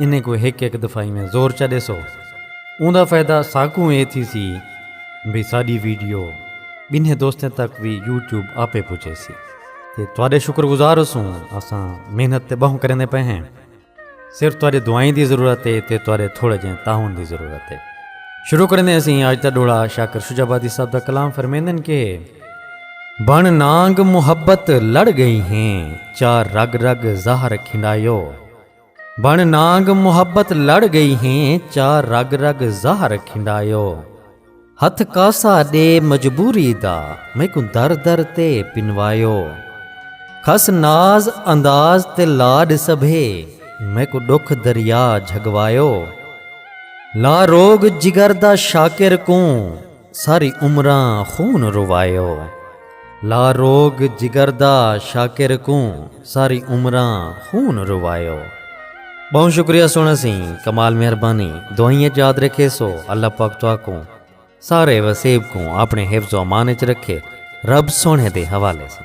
انہیں کوں ہک ہک دفعہ ایویں زور چا ݙیسو اوندا فائدہ ساکوں اے تھیسی بھئی ساݙی ویڈیو ٻنھے دوستیں تک وی یوٹیوب آپے پڄیسی تے تہاݙے شکر گزار ہوسوں اساں محنت تے ٻہوں کریندے پئے ہیں صرف تہاݙے دعائیں دی ضرورت اے تے تہاݙے تھوڑے جہیں تعاون دی ضرورت اے شروع کریندے اسیں اج دا ݙوڑا شاکر شجاع آبادی صاحب دا کلام فرمیندن کہ بݨ نانگ محبت لڑ ڳئی ہیں چا رڳ رڳ زہر کھنڈایو بن نانگ محبت لڑ گئی ہیں چا رگ رگ زہر کھنڈایو ہتھ کاسا ڈے مجبوری دا میکوں در در تے پنوایو کھس ناز انداز تے لاڈ سبھے میکوں ڈکھ دریا جھگوایو لا روگ جگر دا شاکر کوں ساری عمراں خون روائے او لا روگ جگر دا شاکر کوں ساری عمراں خون روائے او۔ بہوں شکریہ سونا سی کمال مہربانی دعائیں اچ یاد رکھے سو اللہ پاک تو آکوں سارے وسیب کوں اپنے حفظ و امان اچ رکھے رب سونے دے حوالے سے۔